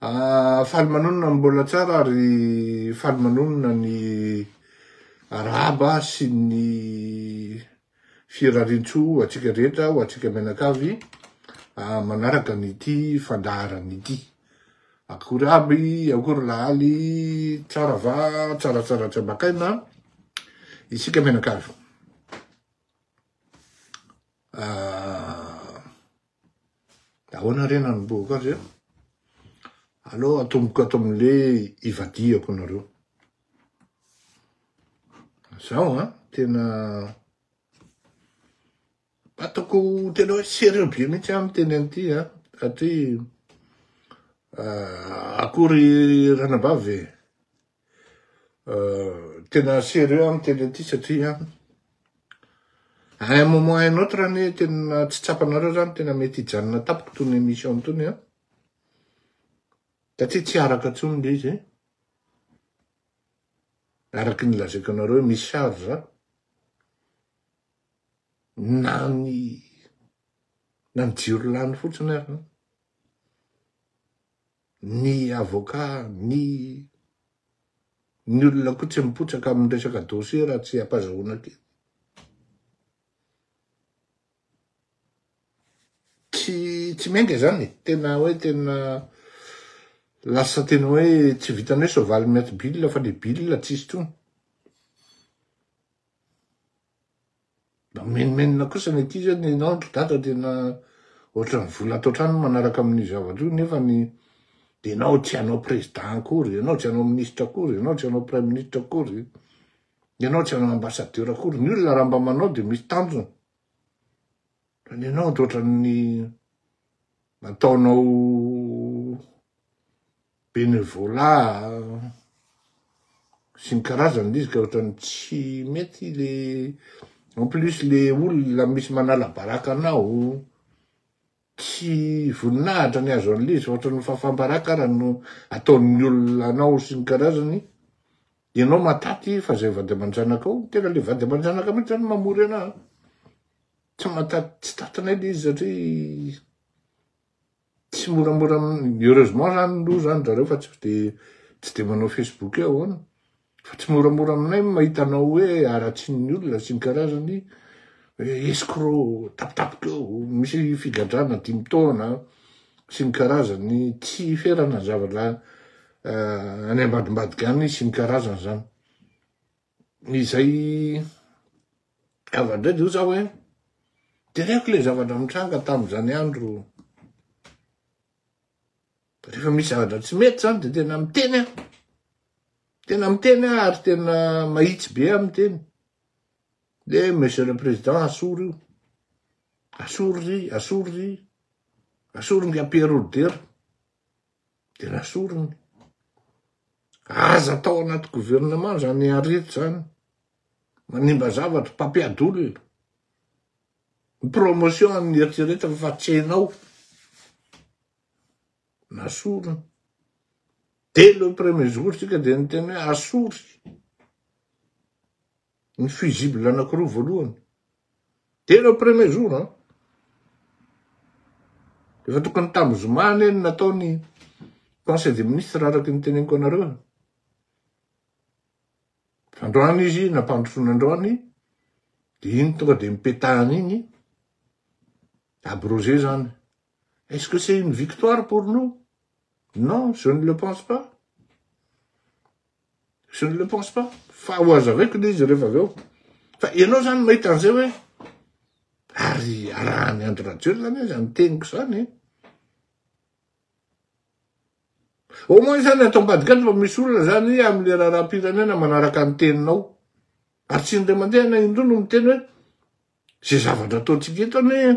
Ah, faly manonona ny mbola tsara ary faly manonona ny Arahaba sy ny firariantsoa ho antsika rehetra, ho antsika mianakavy ah, manaraka an'ity fandaharana ity. Akory aby, akory lahaly, tsara va, tsaratsara jambakaina, isika mianakavy. Ah, De ahoana re nanombohako azy eo? Aleo atomboko ato amin'le ivadihako nareo. Zaho a, tena ataoko tena hoe sérieux be mihitsy aho miteny an'ity a, satria akory ranabavy e. Tena sérieux aho miteny an'ity satria à un moment à un autre anie tena tsy tsapanareo zany tena mety hijanona tapoko tony émission tony a. Satria tsy araka intsony le izy. Araky ny lazaiko anareo misy charge na ny na ny jiro lany fotsiny ary. Ny avoka, ny ny olona koa tsy mipotsaka amin'ny resaka dossier raha tsy ampazahoana kely. Tsy tsy miainga izany e, tena hoe tena lasa tena hoe tsy vitan'ny hoe soavaly miato bill fa le bill tsisy intsony. Mamenomenona kosa ny ankizy hoe nenao ry dada tena ohatran'ny vola ato an-trano manaraka amin'io zavatra io nefa ny ianao tsy hanao président akory, ianao tsy hanao ministre akory, ianao tsy hanao praiministra akory, ianao tsy hanao ambassadeur akory, ny olona raha mba manao dia misy tanjona fa ny anao dia ohatran'ny ataonao Bénévolat sy ny karazany le izy ka ohatrany tsy mety le en plus le olona misy manala baraka anao tsy voninahitra ny azo anle izy fa ohatrany fahafam-baraka ara no ataon'ny olona anao sy ny karazany ianao mataty fa zay vady aman-janakao tena le vady aman-janaka mihitsy zany mamory anao tsy mataty tsy tatinay le izy satria tsy moramora heureusement zany no zany zareo fa tsy de tsy de manao facebook eo ahoana fa tsy moramora aminay mahita anao hoe aratsin'ny olona sy ny karazany escro tapitapika eo misy figadrana dimy taona sy ny karazany tsy ferana ny zavatra eh, any ambadimbadika any sy ny karazany zany izay Avy indray dia hoy za hoe, Teneniko ilay zavatra nitranga tamin'izany andro. Rehefa misy zavatra tsy mety izany dia tena miteny aho. Tena miteny aho ary tena mahitsy be aho miteny. Dia Monsieur le Président, asoro io. Asoro ry, asoro ry. Asoro nga Pierre Roder. de nasoriny. Aza atao anaty gouvernement zany arety zany. Manimba zavatra, mpampiady olona. Ny promotion an'ny eritreretina fa tsy hainao. Nasoriny. Dès le premier jour tsika de niteny hoe asory. ny fusible anakiroa voalohany telo au premier jour an efa tokony tamin'ny zoma anie ny natao ny conseil des ministres araky ny teneniko anareo fandroany izy nampandrosoana androany de iny tonga de mipetahana iny abrogé zany est ce que c'est une victoire pour nous non je ne le pense pas Je ne le pense pas. Fa ho azavaiko le izy rehefa avy eo. Fa ianao zany mahita an'izay hoe ary arahan'i Andry Rajoelina anie zany teniko zany. Eh. Au moins zany ato ambadikany fa misy olona zany amin'le raharaham-pirenena manaraka ny teninao. Ary tsy indray mandeha na indroa no miteny hoe Izay zavatra ataontsika eto anie,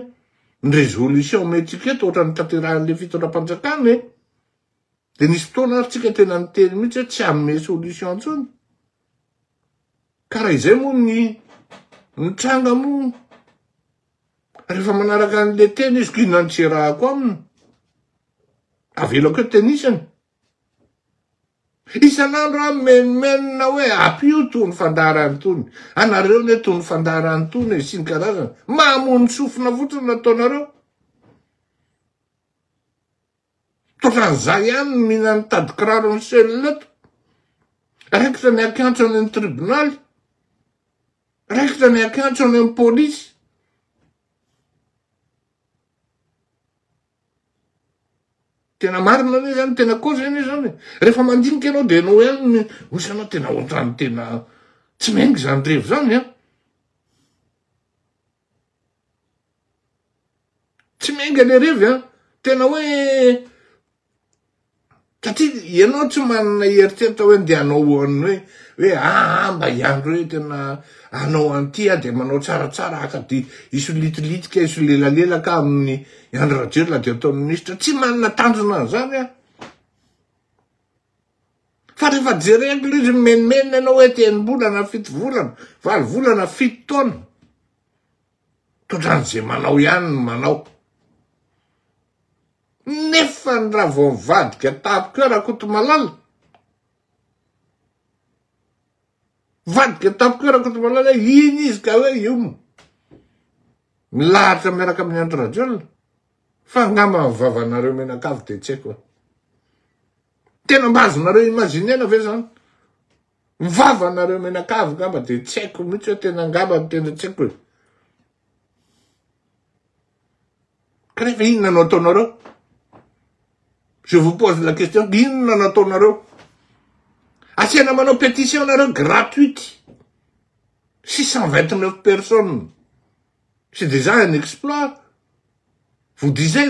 ny résolution omentsika eto ohatran'ny tanterahin'ilay fitondram-panjakana e. Dia nisy fotoana ary tsika tena niteny mihitsy hoe tsy hanome solution intsony. Ka raha izay moa ny mitranga moa, rehefa manaraka an'ilay teny izy, ko inona no tsy iarahako aminy? Avelako eto tenisany. Isan'andro aho mimenomenona hoe apio tony fandaharana tony, anareo anie tony fandaharana tony e, sy ny karazany. Mamono sofina fotsiny no ataonareo. Tokran'izay ihany no mila ny tadikiraro ny cellule eto. Raikitra ny hakiantso any amin'ny tribonaly. Raikitra ny hakiantso any amin'ny polisy. Tena marina anie zany, tena cause anie zany e. Rehefa mandinika ianao dia ianao ihany ny osa ianao tena ohatrany tena tsy miainga izany revy izany an. Tsy miainga le revy an, tena hoe Satria ianao tsy manana eritreritra hoe ndeha hanao hoe hoe aa ah, mba hiandry hoe tena hanao an'ity aho dia manao tsaratsara haka dia hisolitilitika hisolelalelaka amin'ny Andry Rajoelina dia ataon'ny minisitra tsy manana tanjona an'izany aho fa rehefa jereko ilay izy mimenomenona ianao hoe tenim-bolana fito volana valo volana fito taona Tondran'ny ze manao ihany ny manao. Nefa ny raha vao nivadika tamiko eo Rakotomalala, nivadika tamiko eo Rakotomalala hoe iny izy ka hoe io moa milahatra miaraka amin'i Andry Rajoelina fa angamba ny vavanareo mianakavy dia tsy haiko e. Tena mba azonareo imaginer-na ve zany? Ny vavanareo menakavy ngamba dia tsy haiko mihitsy hoe tena ngamba ny teny tsy haiko e. Kanefa inona no ataonareo? Je vous pose la question, inona no ataonareo? Asiana manao pétition nareo gratuite. 629 personnes. C'est déjà un exploit. Vous disais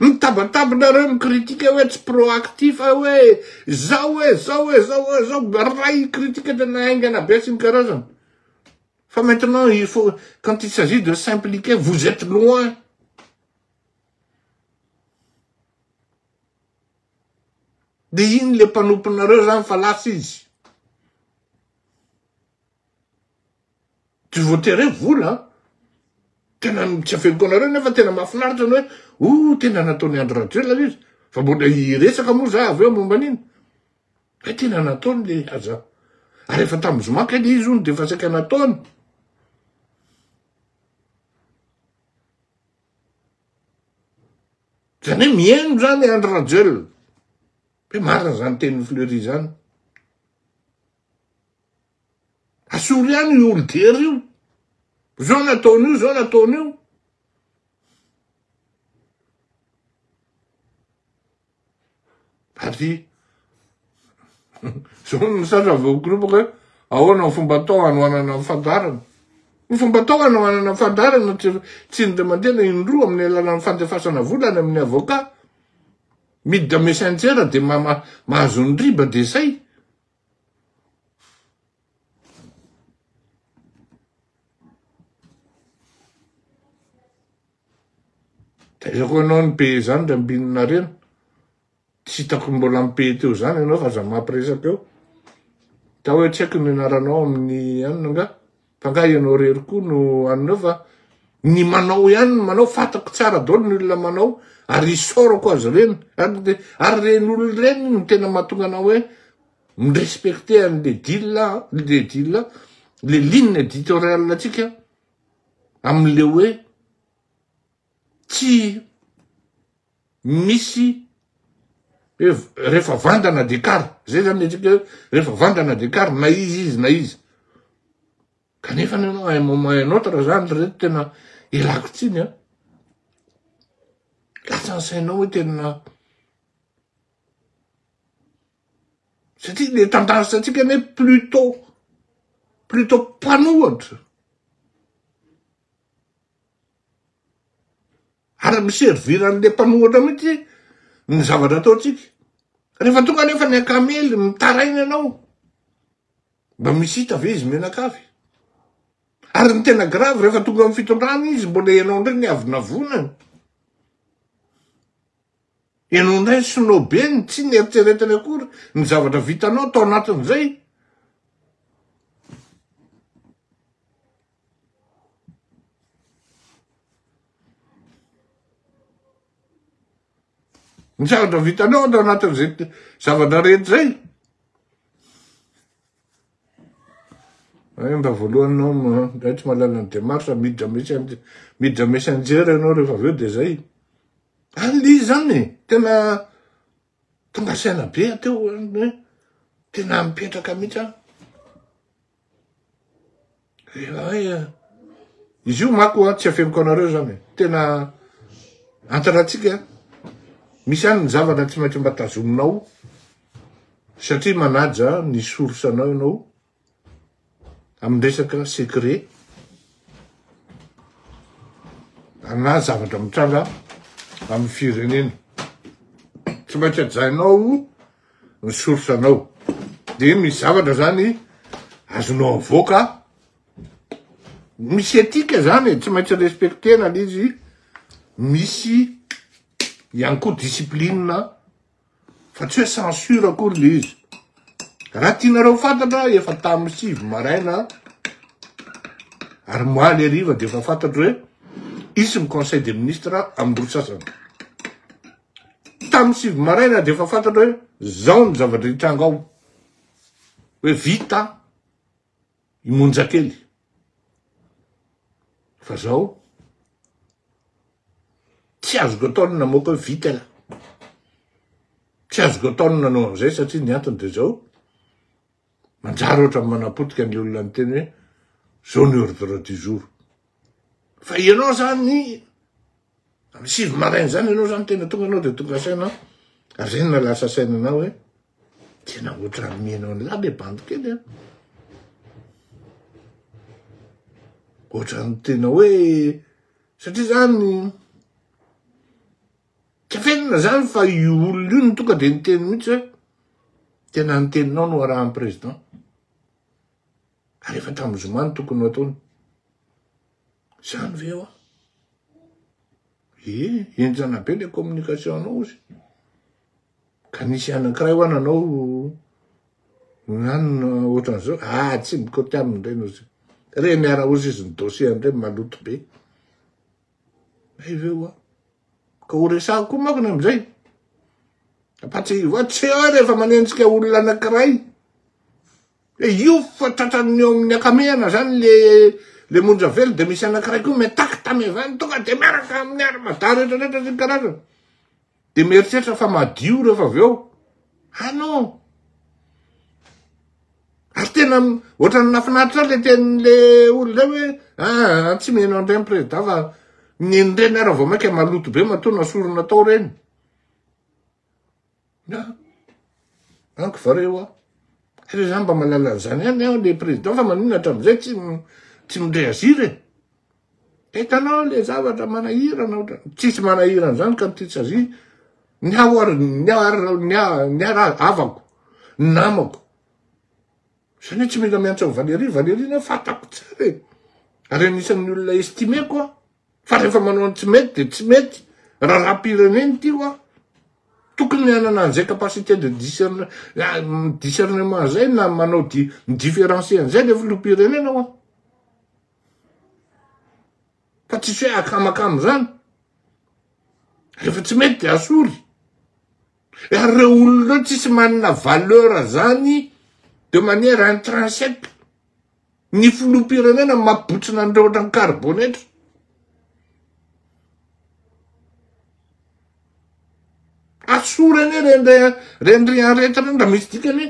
Mitabatabinareo mi-critique hoe tsy proactif hoe zao hoe zao hoe zao hoe zao raha critique tena haingana be sy ny karazany fa maintenant il faut quand il s'agit de s'impliquer vous etes loin de iny le mpanomponareo zany fa lasa izy. Tsy voatery hoe vola an! Tena tsy aveloko anareo nefa tena mahafinaritra ny hoe oh tena nataon'i Andry Rajoelina izy fa mbola hiresaka moa za avy eo momba an'iny. Hoe tena nataony le aza. Ary efa tamin'ny zoma kay le izy hono dia efa saika nataony. Zany hoe mihaino zany Andry Rajoelina. Hoe marina zany tenin'i Fleury zany. Asolo ihany io olon-drery io. Zao no ataon'io, zao no ataon'io. Ary zao no misatra avy okorobaka hoe ahoana ny fomba atao hanohanana ny fandarana. Ny fomba atao hanohanana ny fandarana tsy indray mandeha na indroa amin'ny alalan'ny fandefasana vola any amin'ny avoka. Miditra messenger dia mahazo ny riba dia zay. Taizako ianao ny pays izany dra mbinina rena. Tsy hitako mbola ny pays teo izany ianao fa za mampiresaka eo. Tao hoe tsy haiko ny anaranao amin'ny anona nga. Fa nga ianao rery koa no anona fa ny manao ihany ny manao fatako tsara dolo ny olona manao ary isaorako azy ireny ary ary reny olona ireny no tena mahatonga anao hoe mirespecte an'le dila le dila le ligne editorial atsika amin'le hoe tsy misy hoe rehefa vandana dia kara, zay zany ny antsika hoe rehefa vandana dia kara na iza izy na iza. Kanefa ny anao à un moment à un autre zany ry reto tena ilako tsiny an, latsa ny sainao hoe tena, satria le tantara antsika anie plutôt, plutôt mpanohatra, Ary mi-servir an'le mpanohatra mihitsy ny zavatra ataontsika. Rehefa tonga anefa ny an-kamely mitaraina ianao, mba misy hita ve izy mianakavy? Ary ny tena grave rehefa tonga amin'ny fitondrana izy mbola ianao indray ny avonavonany. Ianao indray ny sinoabeny, tsy neritreretiny akory ny zavatra vitanao tao anatin'izay. Ny zavatra vitanao atao anatin'izay zavatra rehetra izay. Mba voalohany nao mba tsy mahalala ny demarche midra misy midra messenger ianao rehefa avy eo dia izay. Alio izany tena Tonga saina be aho teo hoe tena mipetraka mihitsy aho. Eh, izy io mako a tsy afeniko anareo zany tena antaratsika misy any ny zavatra tsy maintsy mba tazominao satria manaja ny source-nao ianao amin'ny resaka secret na zavatra mitranga amin'ny firenena. Tsy maintsy ajainao ny source anao. Dia misy zavatra zany azonao avoaka. Misy etika zany e, tsy maintsy respectena izy. Misy ihany koa discipline fa tsy hoe censure akory le izy raha tianareo fantatra efa tamin'ny sivy maraina ary maly ariva dia efa fantatro hoe isy ny conseil des ministres amin'ny roa sasany tamin'ny sivy maraina dia efa fantatro hoe zao ny zavatra hitranga ao hoe vita i Monjakely fa zao tsy azoko atao ny namoaka hoe vita la tsy azoko atao ny nanao an'izay satria ny antony dia zao manjary ohatra manapotika ny olona ny teny hoe zao ny ordre du jour fa ianao zany Amin'ny sivy maraina zany ianao zany tena tonga anao dia tonga saina renina lasa sainanao hoe tena ohatran'ny mihaino an'lah le bandy kely an. Ohatran'ny tena hoe satria zany tafenina zany fa io olona io no tonga dia niteny mihitsy hoe tena ny teninao no arahan'ny président. Ary efa tamin'ny zoma no tokony ho ataony. Zany ve hoa? Ee, enjana be le communication anao ozy. Ka nisy anankiray hoa nanao nanona ohatran'izao, ah tsy mikoty aminy reny ozy. Re miara ozy izy ny dossier ndray maloto be. Hay ve hoa? Ka ho resahako koa manko ny amizay. Fa tsy tsy eo rehefa manenjika olona anankiray. Dia io fa tratran'ny eo amin'ny akamehana zany le le monja velo dia misy anankiray koa mi-attaque tamy zany tonga dia miaraka amin'ny armada rehetra rehetra sy ny karazany dia mieritreritra fa madio rehefa avy eo ah non ary tena ohatran'ny nafinaritra ahy le tenin'le olona hoe ah tsy miheno an'ireny prezida fa nen'ireny aho raha vao mainka maloto be matoa nasorona tao ireny Na, an ko vareo a. Ary za mba mahalala an'zany ihany aho le président fa maninona hatramin'izay tsy tsy mi-réagir e. Hitanao le zavatra manahirana ohatrany, tsisy manahirana zany ka mty tsazia, ny ahy ho'a ny ahy ary ny ahy ny ahy ra havako, namako, zany hoe tsy mila miantso an'i Valérie, Valérie ny ahy fantako tsara e, ary anisan'ny olona estimeko aho. Fa rehefa manao ny tsy mety dia tsy mety. Raharaham-pirenena ity hoa. Tokony hanana an'izay capacité de discernement izay na manao différencier an'izay ilay filoham-pirenena hoa. Fa tsisy hoe akamakama izany. Rehefa tsy mety dia asory. Ary ireo olona ireo tsisy manana valeur izany de manière intrinsèque. Ny filoham-pirenena no mampibotsina an'ireo ohatran'ny karibonetra. Asory anie ireny re- ireny rian rehetra ireny raha misy dikany e.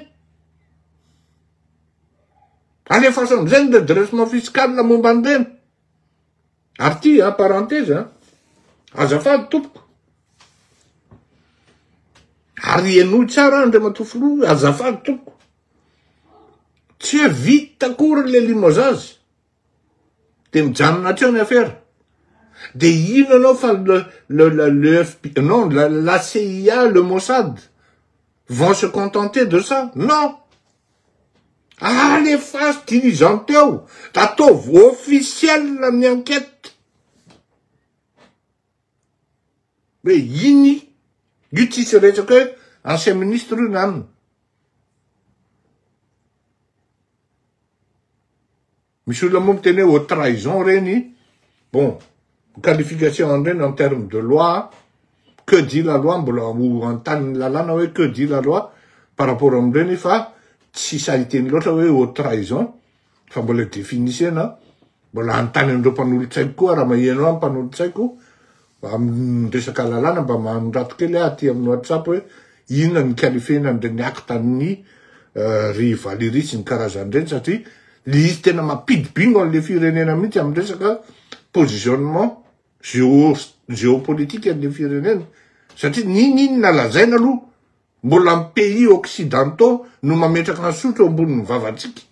Alefaso amin'izay ny redressement fiscal momba an'ireny. Ary ity a parenthèse a, azafady tompoko. Ary henoy tsara Andriamatoa Filoha, azafady tompoko. Tsy hoe vita akory le limozazy. Dia mijanona hatreo ny afera. Dia ino anao fa le, le, le, le FB, non, la, la CIA, le Mossad vont se contenter de ça. Non! Alefaso dirigeant eo, da ataovy officiel ny enquête. Hoe iny, io tsisy resaka hoe ancien ministre io na anona. Misy olona moa miteny hoe haute trahison ireny, bon, qualification an'ireny en terme de loi, que dit la loi, mbola ho anontani'ny lalàna hoe que dit la loi par rapport amin'ireny fa tsy sahy hiteny loatra hoe haute trahison. fa mbola definisena aho, mbola hanontany an'ireo mpanolotsaiko koa raha maheno ahy ny mpanolotsaiko amin'ny resaka lalàna mba manorato kely aho aty amin'ny WhatsApp hoe inona ny ikalifena an'ireny acte ny euh, ry Valérie sy ny karazany ireny satria le izy tena mampidi bingo an'le firenena mihitsy amin'ny resaka positionnement géo géopolitique an'le firenena satria n'ininona lazaina aloha Mbola ny pays occidentaux no mametraka hasotro eo ambonin'ny vavantsika.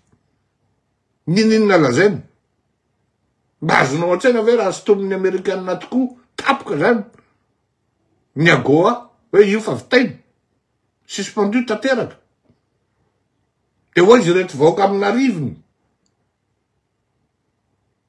Niniana lazaina? Mba azonao an-tsaina ve raha sintomin'ny amerikana tokoa tapoka zany ny AGOA hoe io fa vitaina? Suspendu tanteraka? Dia hoaiza ireto vahoaka amin'arivony?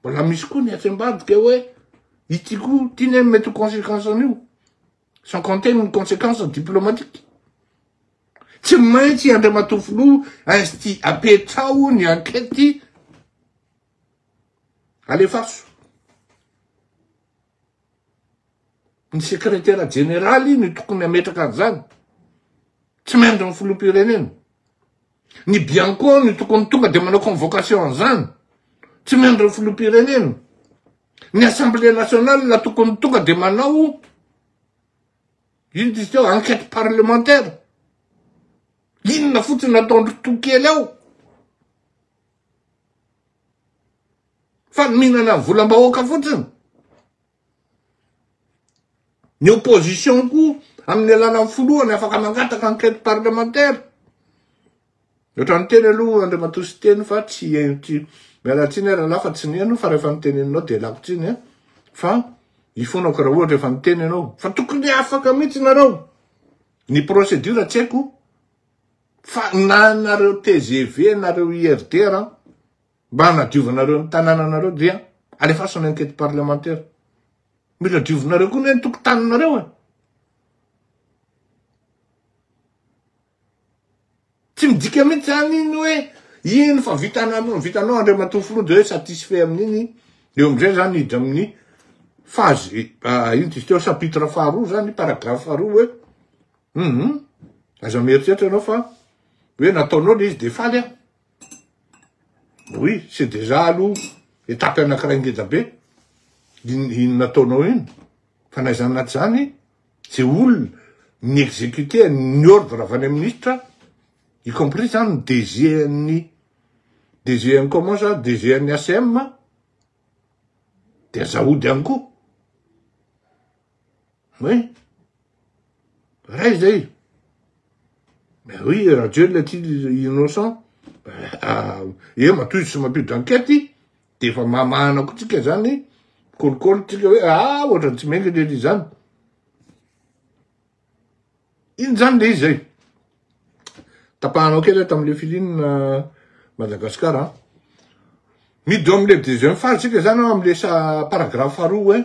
Mbola misy koa ny atsy ambadika hoe ity koa ity ny mety ho conséquence an'io. Sans compter ny conséquence diplomatique. Tsy maintsy Andriamatoa Filoha insti apetraho ny enquête alefaso. Ny sekretera jeneraly no tokony hametraka an'izany, tsy maintsy ny filoham-pirenena. Ny bianco no tokony tonga dia manao convocation an'izany, tsy maintsy ny filoham-pirenena. Ny assemblée nationale no tokony tonga dia manao inona izy teo, enquête parlementaire. Inona fotsiny no ataondry Tokely ao? Fa ny mihinana volam-bahoaka fotsiny. Ny opposition koa amin'ny alalan'ny filohany afaka mangataka enquête parlementaire. Ohatran'ny teny aloha Andriamatoa Siteny fa tsy tsy miala tsiny ary lahy fa tsy neno fa rehefa niteneninao dia lako tsiny eh. fa ifonako raha ohatra efa niteny ianao fa tokony afaka mihitsy nareo ny procédure tsy haiko Fa na nareo tgv nareo IRD ra mba hanadiovanareo ny tanananareo dia alefaso ny enquete parlementaire. Mila diovinareo koa ne ny tokotaninareo e. Tsy midika mihitsy zany iny hoe iny fa vitanao vitanao Andriamatoa Filoha dia hoe satisfait amin'iny. Eo amin'izay zany hiditra amin'ny phase ah, ino izy teo chapitre faharoa zany paragraphe faharoa hoe Humm aza mieritreritra ianao fa hoe nataonao ilay izy dia faly aho. Oui, c'est déjà aloha étape anankiray ngeda be iny nataonao iny fa na izany na tsy izany ze olona ny exécuter ny ordre avy any ministre y compris izany ny DG an'ny DG an'ny comment ça DG an'ny ACM dia aza hody ihany koa. Oui. Ray zay. Ben oui, Rajoelina aty innocent. Ah, e matoy tsy mampio d'enquête, de efa mamahana ko tsika zany, kolikoly tsika hoe ah ohatrany tsy mendrika ery zany. Iny zany le izy zay. Tapahanao kely tamin'le filine euh, Madagascar a. Midome le deuxième phase tsika zany amin'le paragraphe faharoa hoe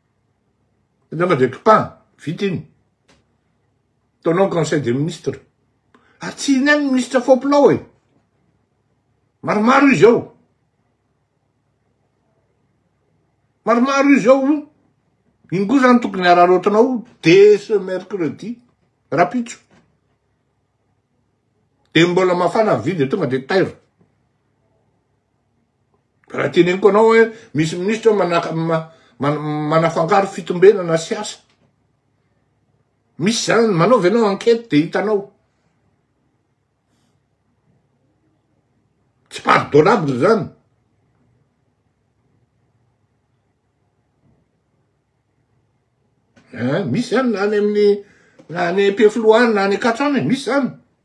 Nefa dia kipahana, vita iny. Ataonao ny conseil des ministres. Ary tsy inona ny ministra faompilao e. Maromaro izy ao. Maromaro izy ao. Iny koa zany tokony araraotinao dès ce mercredi rapitso. Dia mbola mafana vy dia tonga dia tairo. Raha teneniko anao hoe misy minisitra manafangaro fitombenana sy asa. Misy zany, manaova ianao enquête dia hitanao. Tsy pardonnable zany. Eh, misy zany na any amin'ny na any am-pifiloha any na any akatrana, misy zany.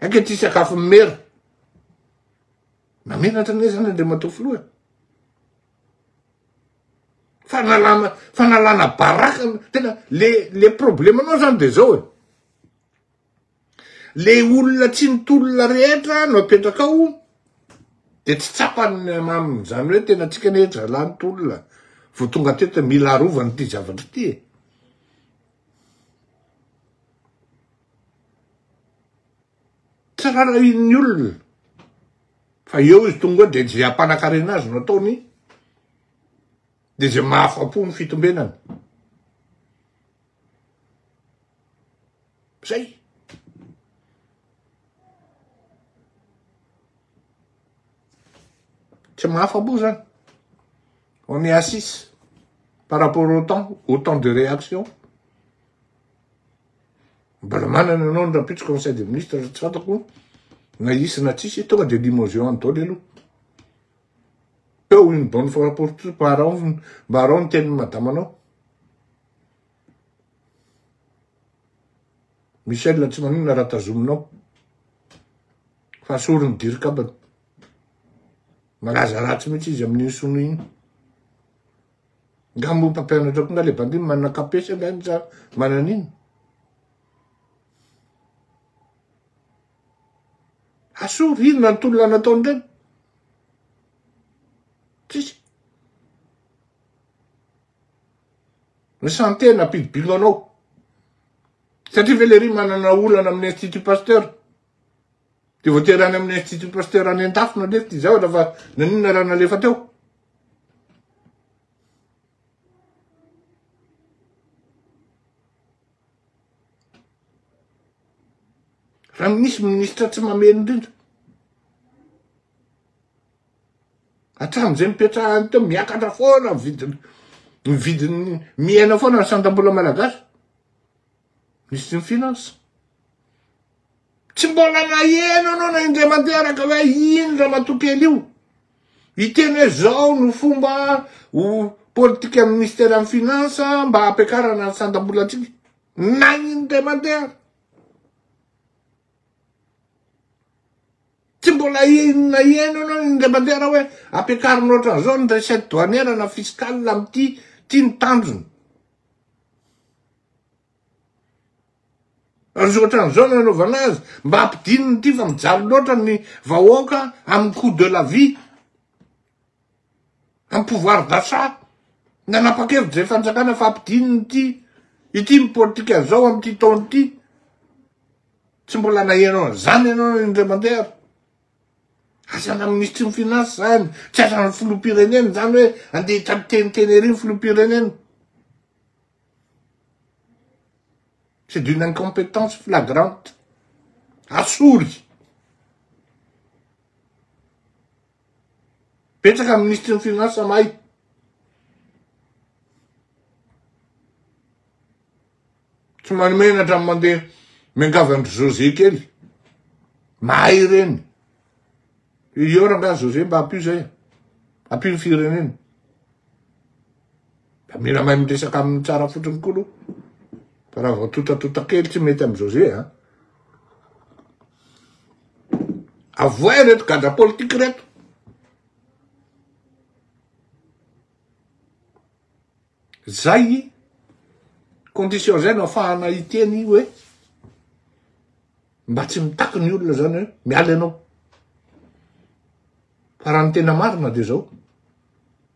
Aika ty sakafo mimera. Namenatra anie zany Andriamatoa Filoha. Fanalana fanalana baraka tena le le problemanao zany de zao e. Le olona tsy nitolona rehetra no apetrakao de tsy tsapany aminy zany hoe tena tsika ne zalahy nitolona vao tonga teto mila arovana ity zavatra ity e. Tsarain'ny olona fa eo izy tonga eo dia izay hampanakarena azy no ataony, dia izay mahafa-po ny fitombenany. Zay. Tsy mahafa-po zany. On est à six par rapport au temps, au temps de réaction. Mbola manana anao ny rampitso conseil de ministre tsy fantako na hisy na tsisy tonga de limogeon any daholo aloha peo une bonne fois pour tout mba arao mba arao ny tenin'ny madama anao Michel tsy maninona raha tazominao fa sorin'ny dirikabany malaza ratsy mihitsy izy amin'iny sono iny Nga mo mpampianatra koa nga le bandy manana kapesa nga izy sa manana ino? Asao rivina ny tolona nataony reny. Tsisy. Ny santé nampidibino anao. Satria ve le ry manana olana amin'ny institut pasteur? Dia voatery any amin'ny Institut Pasteur any Andafy no alefa ty zavatra fa naninona raha nalefa teo? Raha minisy minisitra tsy mamely indrindra. Hatramin'izay mipetrahany teo miakatra foana ny vidiny ny vidiny miaina foana ny sandam-bola malagasy. Mister Finance, tsy mbola naheno anao na indray manteraka hoe iny ramatoa kely io hiteny hoe zao no fomba ho politikan'ny ministeran'ny finance mba hampiakarana ny sandam-bolatsika na indray mandeha tsy mbola naheno anao indray mandeha hoe ampiakarina ohatran'izao ny recette douanière na fiscale amin'ity ity ny tanjona Ary ohatran'izao no anaovana azy, mba hampidininy ity fa mijaly loatra ny vahoaka amin'ny coût de la vie, amin'ny pouvoir d'achat. Nanapa-kevitra izay fanjakana fa hampidininy ity, ity ny politika izao amin'ity taona ity. Tsy mbola naheno an'izany ianao indray mandeha ary. Asana minisitry ny finances izany, tsy asan'ny filoham-pirenena izany hoe andeha hiteniteny ery ny filoham-pirenena. C'est d'une incompétence flagrante. Asory. Betsaka ny ministry ny finansa mahay. Tsy manomenatra ny mandeha miangavy andry José kely. Mahay ireny. Iora nga José mba ampio zay. Ampio ny firenena. Da mila mahay miresaka aminy tsara fotsiny koa aloha. Fa raha vao totatota kely tsy mety amin'izao ze a. Avoay ireto gadra politika ireto. Zay condition zay no afahana hiteny hoe mba tsy mitaky ny olona zany hoe miala ianao. Fa raha ny tena marina dia zao.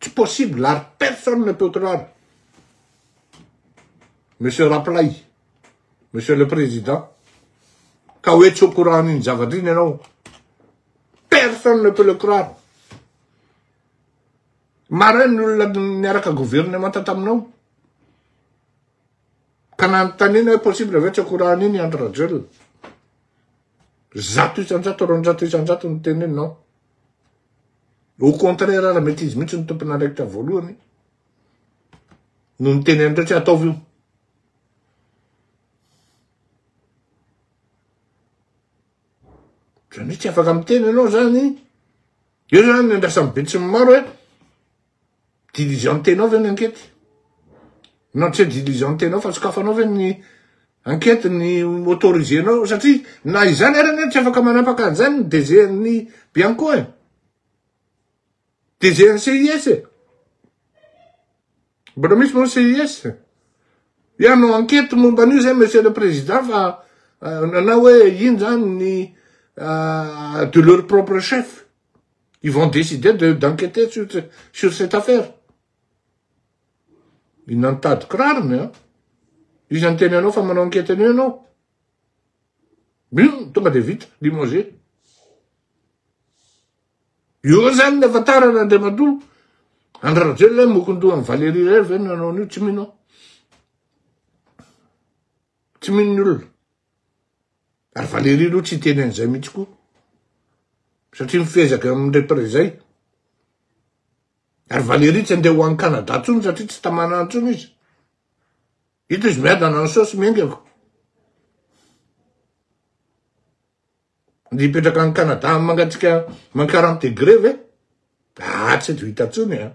Tsy possible ary personne ne peut croire Monsieur Raplay, Monsieur le Président, ka hoe tsy au courant an'iny zavatra iny ianao. Personne ne peut le croire. Marin ny olona niaraka gouvernemanta taminao. Ka nanontaniana hoe possible ve tsy au courant an'iny i Andry Rajoelina. Zato isan-jato, roanjato isan-jato no teneninao. Au contraire ara mety izy mihitsy no tompon'andraikitra voalohany no niteny an'ireo tsy ataovy io. Zany hoe tsy afaka miteny ianao zany, eo zany ny andrasan'ny be tsy ny maro hoe, Diligentenao ve ny ankety? Nantre diligentenao fa sokafanao ve ny ankety ny autorisenao satria na izany ary anie tsy afaka manapaka an'izany ny DG ny Bianco e. DG ny CIS e. Mbola misy moa CIS e. Ianao ankety momba an'io zay monsieur le président fa euh, nanao hoe ino zany ny euh, de leur propre chef. Ils vont décider de d'enquêter sur, sur cette affaire. Inona ny tady kirarony a? Iza ny teny anao fa manao enquête an'io ianao? Bim, tonga dia vita, limogé. Io zany ny afantarana Andriamatoa. Andry Rajoelina hoe mokondoha an'i Valérie irery ve no nanao an'io? Tsy mino aho. Tsy mino ny olona. Ary Valérie aloha tsy hiteny an'izay mihitsy koa. Satria mifezaka amin'ny repere izay. Ary Valérie tsy andeha ho any Canada intsony satria tsy tamana intsony izy. Hita izy miadana ny saosy miaingako. Ny hipetraka any Canada mangatsika man 40 degré ve? Ah, tsy eto hita intsony an. Ah.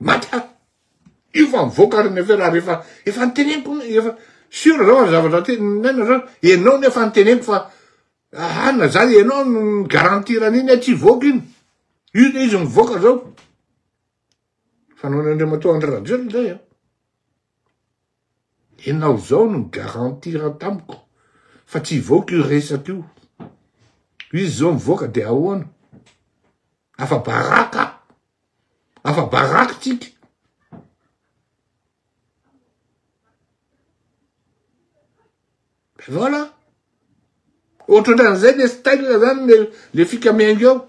Maty aho. Io fa mivoaka ary ny affaire ary efa efa niteneniko efa sûr zao ary zavatra aty ninaina zao ianao no efa niteneniko fa aah na zany ianao no garantir an'iny hoe tsy hivoaka iny. Io zao izy mivoaka zao. Fanaon'Andriamatoa Andry Rajoelina zay an. Enao zao no garantir tamiko fa tsy hivoaka io resaka io. Izy zao mivoaka de ahoana? Afa baraka! Afa baraka tsika! Voilà! Ohatrotran'izay le style zany le fikamiainga eo.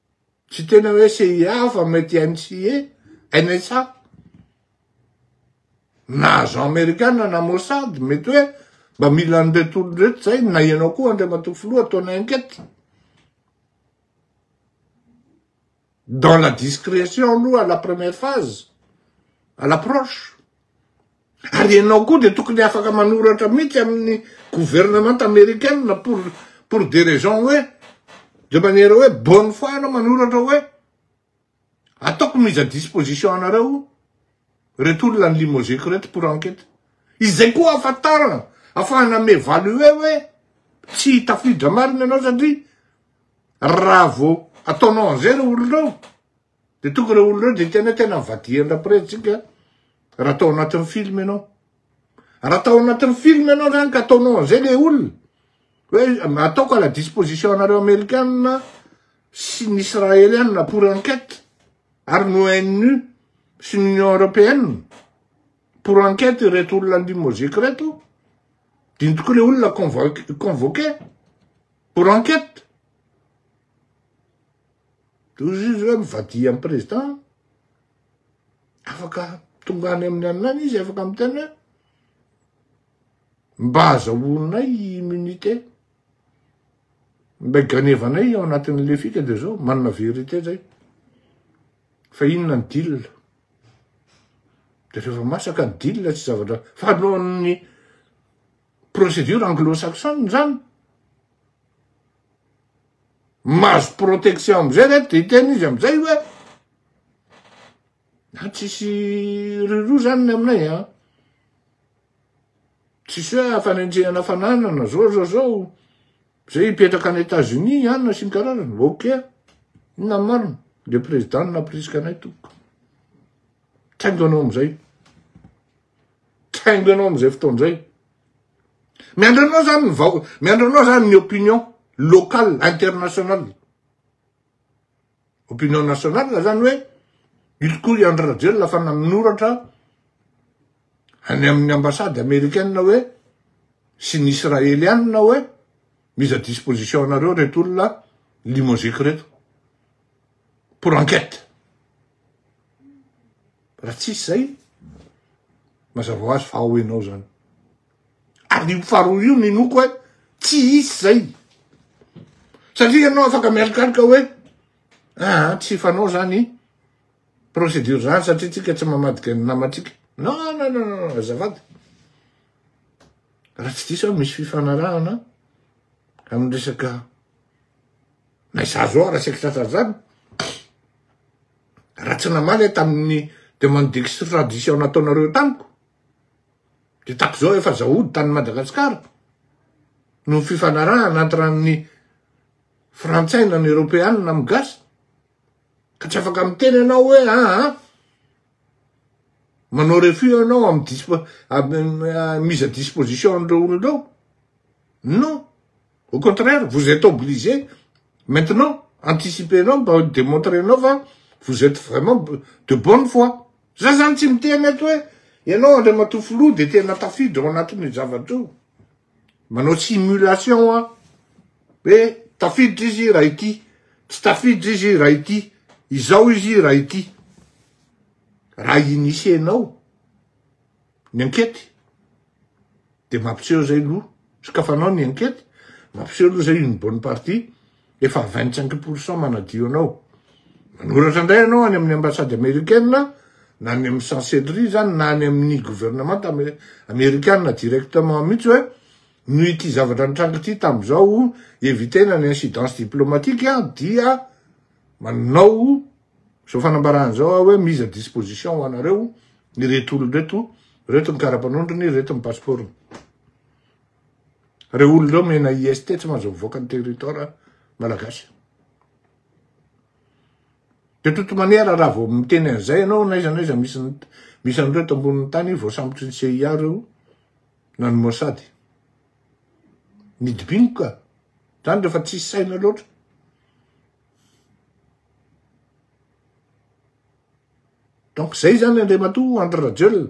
Tsy tena hoe CIA fa mety NCA, NSA. Na agent amerikana na Mossad, mety hoe mba mila an'ireto olona ireto izay na ianao koa Andriamatoa Filoha ataonay enquête. Dans la discrétion aloha à la première phase, à l'approche. Ary ianao koa dia tokony afaka manoratra mihitsy amin'ny gouvernemanta americaine pour, pour des raisons hoe, de manière hoe bonne foi ianao manoratra hoe, ataoko mise à disposition anareo reto olona ny limozeko reto pour enquête. Izay koa ahafantarana, afahana m'evaluer hoe tsy tafiditra marina ianao satria raha vao ataonao an'izay ireo olona ireo, De tonga ireo olona ireo de tena tena vadian rapretintsika raha tao anatin'ny film ianao raha tao anatin'ny film ianao zany ka ataonao an'izay le olona hoe ataoko à la disposition anareo amerikana sy ny israeliana pour enquête ary no nu sy ny union européenne pour enquête ireto olona limozika ireto diny tokoa le olona convoqué pour enquête Tohizo hoe mivadia ny président afaka tonga any amin'ny an'lany izy afaka miteny hoe mba azahoanay immunité mba ganevanay ao anatin'ny lefika dia zao manana vérité zay fa inona ny deal dia rehefa masaka ny deal tsy zavatra fa nohon'ny procédure anglo-saxonne zany mahazo protection amizay reto de hiteny izy amizay hoe na tsisy riro zany ny aminay an tsisy hoe afanenjehana fananana zao zao zao zay hipetraka any etats unis anina sy ny karazany ok inona ny marina le president no nampirisika anay tompoko tsy haiko anao amizay Tainga anao amin'izay fotoana izay. Miandry anao zany ny vahoaka, miandry anao zany ny opinion locale, internationale. Opinion nationale zany hoe ilikoa i Andry Rajoelina fa nanoratra any amin'ny ambassade américaine hoe sy ny israélianina hoe mise à disposition anareo reto olona limoziky reto pour enquête. Raha tsisy izay, mazava ho azy fa ao ianao izany. Ary io faharoa io ninoako hoe tsy hisy izay. Satria ianao afaka mialikaloka hoe aa ah, tsy fanao izany procédure izany satria tsika tsy mamadika ny namatsika. Non, non, non, non, azafady. Raha tsy diso aho misy fifanarahana amin'ny resaka Mais za zao raha saika tratra an'izany, raha tsy namaly aho tamin'ny demande d'extradition nataonareo tamiko, dia tato zao efa za hody tany Madagascar, noho ny fifanarahana entre ny frantsay na ny eropeana amin'ny gasy. Ka tsy afaka miteny ianao hoe aa, ah, manao refus ianao amin'ny dispo, euh, mise à disposition an'ireo olona ireo. Non, au contraire, vous êtes obligé maintenant, anticiper anao mba demontrer anao fa vous êtes vraiment de bonne foi. Za zany tsy miteny eto hoe ianao Andriamatoa Filoha dia tena tafiditra ao anatin'io zavatra io. Manao simulation an! Hoe tafiditra izy raha ity, tsy tafiditra izy raha ity, izao izy raha ity. Raha initier-nao ny ankety dia mampiseho izay aloha, sokafanao ny ankety, mampiseho aloha izay une bonne partie, efa vingt cinq pour cent manadio anao, manoratra indray ianao any amin'ny ambassade americaine na any amin'ny chancellerie izany na any amin'ny gouvernement americana directement mihitsy hoe noho ity zavatra nitranga ity tamin'izao evitena ny incidence diplomatique a dia manao izao fanambarana izao aho hoe mise à disposition ho anareo ireto olona ireto, ireto ny karapanondrony, ireto ny passeport-ny. Reo olona reo mena IST tsy mahazo mivoaka ny territoire malagasy. De toute manière raha vao miteny an'izay ianao n'aiza n'aiza misy misy an'ireo eto ambonin'ny tany voasambotry ny CIA reo na ny Mossad. Midibino ka. Zany rehefa tsisy saina loatra. Donc zay zany Andriamatoa Andry Rajoelina.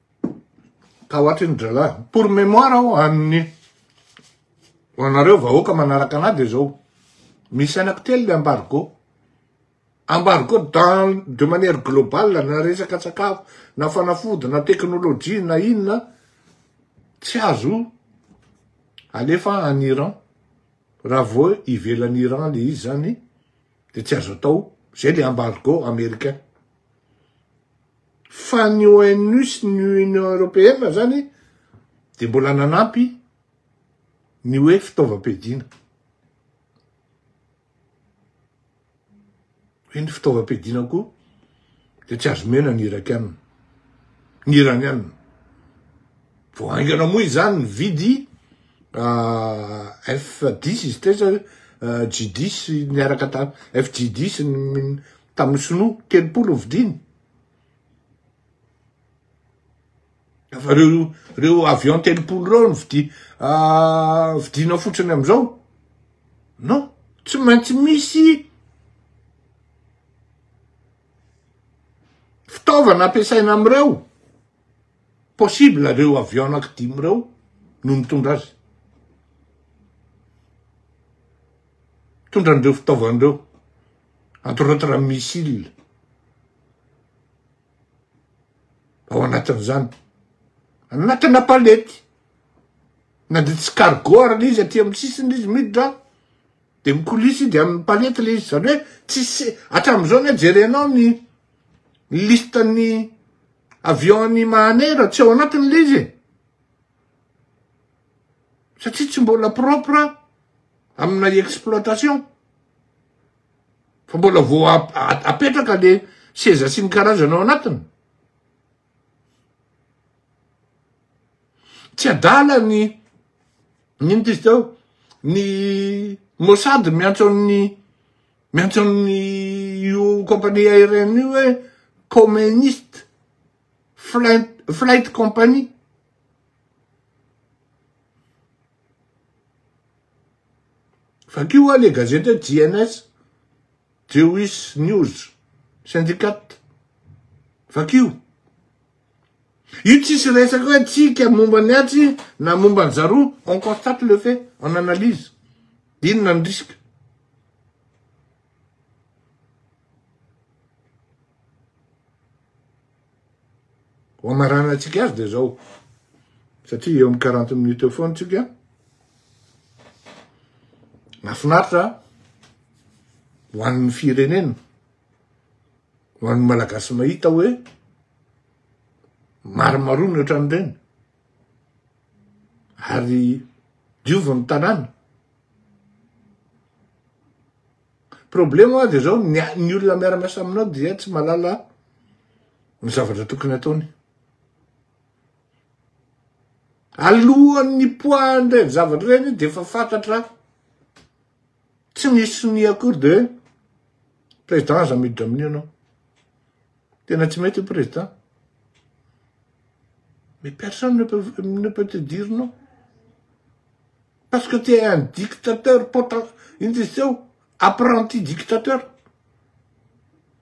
Tahoatry ny drala. Pour mémoire aho an'ny ho anareo vahoaka manaraka anah dia zao. Misy anako telo le embargo. Embargo dans de manière globale na resaka sakafo, na fanafody, na teknolojia, na inona tsy azo alefa any Iran. Raha vao ivelan'i Iran le izy zany dia tsy azo atao. Zay le embargo américain. fa ny ONU sy ny Union Européenne zany dia mbola nanampy ny hoe fitaovam-piadiana. Hoe ny fitaovam-piadiana koa dia tsy azo mena ny Irakiana, ny Iraniana. Vao haingana moa izany ny vidy ah, F10 izy teza ah, G10 niaraka tamin'ny FG10 Tamin'ny sinoa, telopolo ny vidiany. Efa reo, reo avion telopolo reo ny vidi, ah, vidina fotsiny amizao. Non, tsy maintsy misy fitaovana ampiasaina amreo. Possible reo avion anaky dimy reo no mitondra azy. Mitondra anreo fitaovana reo. Atorantran missile ao anatin'izany. Anatina palette. Na dia tsy cargo ary le izy aty amin'ny sisiny le izy miditra dia mikolisa izy amin'ny palette le izy. Izany hoe tsisy hatramin'izao anie jerenao ny listan'ny avion-n'i Mahanera tsy ao anatiny le izy e. Satria tsy mbola propre amina exploitation. Fa mbola vao apetraka le seza sy ny karazana ao anatiny. Tsy adala ny nino tizy tao ny Mossad miantso amin'ny miantso amin'ny io compagnie aérienne io hoe communist flight, flight company. Vakio hoa le gazety hoe JNS, Jewish News Syndicat. Vakio. Io tsisy resaka hoe tsika momba ny atsy na momba ny zaroa, on constate le fait, on analyse. Inona ny risque? Ho amaranantsika azy dia zao, satria eo amin'ny quarante minutes eo foana tsika. Mahafinaritra ho an'ny firenena, ho an'ny malagasy mahita hoe maromarony ohatran'ireny. Ary diovy ny tanàna. Problème hoa de zao ny ny olona miara miasa aminao dia tsy malala ny zavatra tokony ataony. Alohan'ny nipoahan'ny reny zavatra reny dia efa fantatra tsy misy sonia akory de président aza miditra amin'io ianao. Tena tsy mety io président. Mais personne ne peut ne peut te dire non. Parce que tu es un dictateur potent, inona izy teo? apprenti dictateur,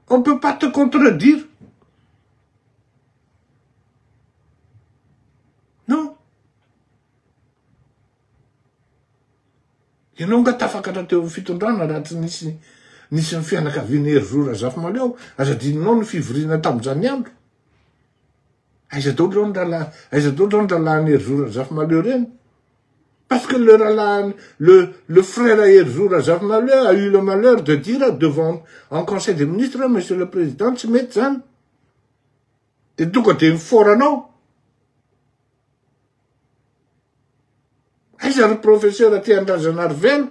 on ne peut pas te contredire, non, ianao nga tafakatra teo amin'ny fitondrana raha tsy nisy nisy ny fianakavian'i Herizo Razafimahaleo, aza adinonao ny fivoriana tamin'izany andro, aiza daholo zao ny rahalahy, aiza daholo zao ny rahalahin'i Herizo Razafimahaleo ireny? Parce que le ralahany, le, le frère à Herzou Razafimaleur a eu le malheur de dire devant, en conseil des ministres, monsieur le président, tsy mety zany. Dia tonga dia mifaora anao. Aiza ry professeur aty Andrazanarivelo?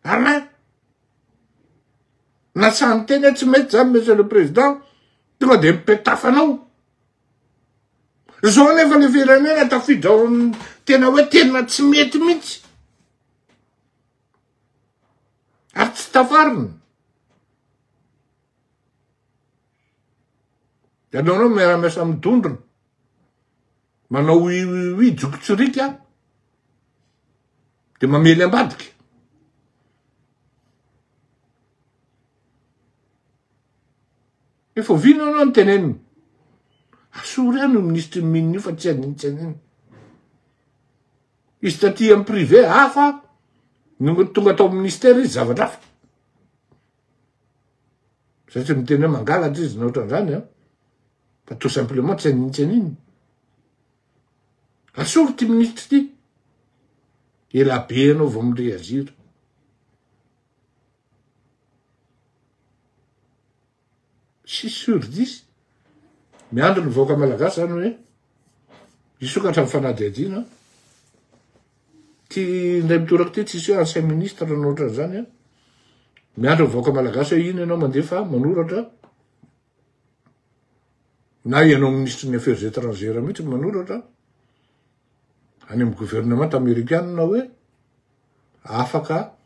Alain? Natsahany teny hoe tsy mety zany monsieur le président, tonga dia mipetafa anao. Izao anefa ilay firenena tafiditra ao amin'ny tena hoe tena tsy mety mihitsy. Ary tsy tafarina. Ianao anao miara-miasa amin'ny dondrona. Manao ui ui ui jokotsirika dia mamely ambadika. Efa oviana anao no teneniny? Asoro ihany io minisitry ny mine io fa tsy adiny tsy adiny. Izy taty amin'ny privé hafa, no tonga tao amin'ny ministère izy zavatra hafa. Zay tsy miteny hoe mangalatra izy na ohatran'izany an. Fa tout simplement tsy aniny tsy aniny. Asoro ty minisitry ty. Ela be ianao vao mi-reagir. Tsisy sur dix. Miandry ny vahoaka malagasy zany hoe hisokatra ny fanadihadiana. Ity indray mitoraka ity tsisy hoe ancien ministre na ohatran'izany an. Miandry ny vahoaka malagasy hoe ino ianao mandefa manoratra na ianao ministre ny affaires étrangères mihitsy manoratra any amin'ny gouvernemanta amerikana hoe. afaka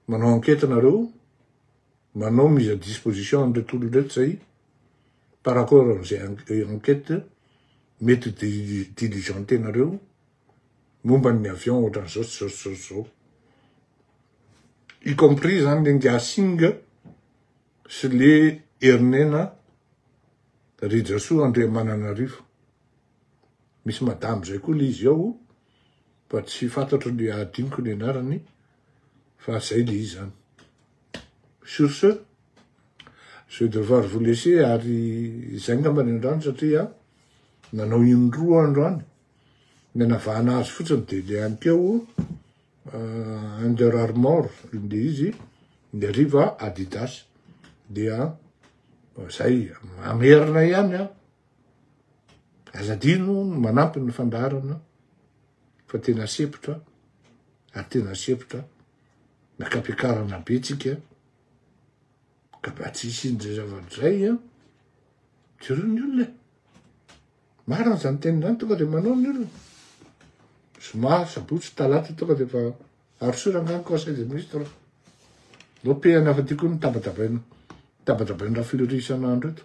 manao enquête nareo, manao mise à disposition an'ireto olona ireto zay par rapport amin'izay enquête mety ho diligentenareo momba ny avion ohatran'izao sy zao sy zao sy zao. Y compris zany le Ngasing sy le Herinena Rijasoa Andriamananarivo. Misy madame zay koa le izy ao. fa tsy fantatro ny adinoko ny anarany fa zay le izy zany sur ce je vais devoir vous laisser ary zay ngamba ny androany satria nanao indroa androany ny anavahana azy fotsiny de le any keo uh, under armor le izy ny ariva adidas dia zay mamerina ihany a Aza adino ny manampy ny fandaharana fa tena sepotra ary tena sepotra miakam-piakarana be tsika ka mba tsy hisian'izay zavatra izay a jereo ny olona e marina izany teny izany tonga dia manao ny olona zoma sabotsy talata tonga dia efa arosoy rangano conseil des ministres no pehana fa tiako ny tabatabaina tabatabaina rafleuri isan'andro eto